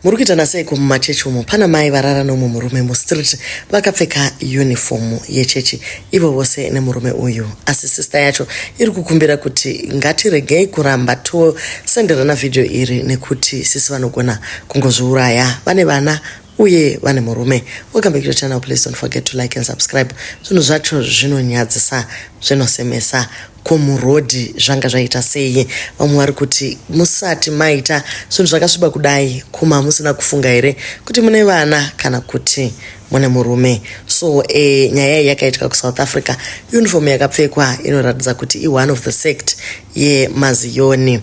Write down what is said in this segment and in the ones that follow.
muri kuitana seiko mumachechi umo pana mai varara nomwe murume mustreet vakapfeka yunifomu yechechi ivo vose nemurume uyu asi sista yacho iri kukumbira kuti ngatiregei kuramba tosenderana vhidhiyo iri nekuti sisi vanogona kungozviuraya vane vana uye vane murume welcome back to channel please don't forget to like and subscribe zvinhu zvacho zvinonyadzisa zvinosemesa komurodhi zvanga zvaita sei vamwe vari kuti musati maita zvinhu zvakasviba kudai kuma musina kufunga here kuti mune vana kana kuti mune murume so e, nyaya iyi yakaitika kusouth africa uniform yakapfekwa inoratidza kuti i one of the sect yemaziyoni yeah,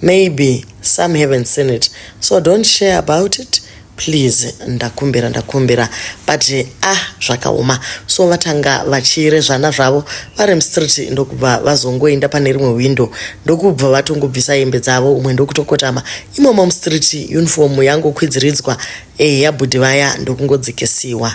Maybe some haven't seen it so don't share about it please ndakumbira ndakumbira but ah zvakaoma so vatanga vachiire zvana zvavo vari mustreet ndokubva vazongoenda pane rimwe window ndokubva vatongobvisa hembe dzavo umwe ndokutokotama imomo mustreet uniform yangokwidziridzwa eya bhudhi vaya ndokungodzikisiwa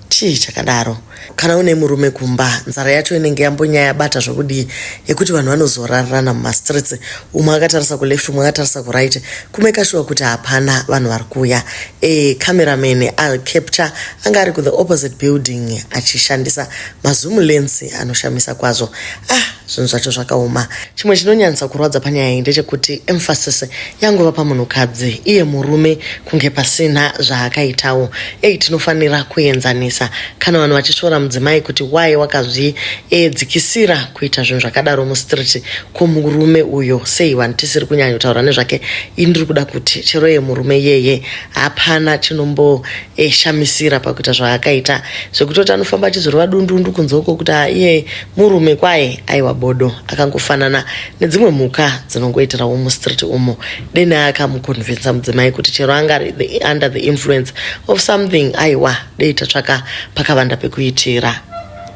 Chii chakadaro? Kana une murume kumba, nzara yacho inenge yambonyaya yabata zvokudii yekuti vanhu vanozorarana mumastreets, umwe akatarisa kuleft umwe akatarisa kuright kumeka shuwa kuti hapana vanhu vari kuuya. E, cameraman acapture anga ari kuthe opposite building achishandisa mazoom lens anoshamisa kwazvo. Ah, zvinhu zvacho zvakaoma chimwe chinonyanyisa kurwadza panyaya iyi ndechekuti emphasis yangova pamunhukadzi iye murume kunge pasina zvaakaitawo ei tinofanira kuenzanisa kana vanhu vachishora mudzimai kuti waye wakazvidzikisira kuita zvinhu zvakadaro mustreet ko murume uyo sei vanhu tisiri kunyanyotaura nezvake i ndiri kuda kuti chero ye murume yeye hapana chinombo eshamisira pakuita zvaakaita zvekutoti anofamba achizorova dundundu kunze uko kuti iye murume kwaye aiwa bodo akangofanana nedzimwe mhuka dzinongoitirawo mustreet umo deni akamukonvinsa mudzimai kuti chero anga ari under the influence of something aiwa dei tatsvaka pakavanda pekuitira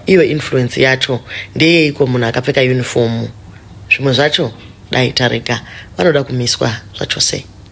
iyo influence yacho ndeyeiko munhu akapfeka unifomu zvimwe zvacho dai tarega vanoda kumiswa zvachose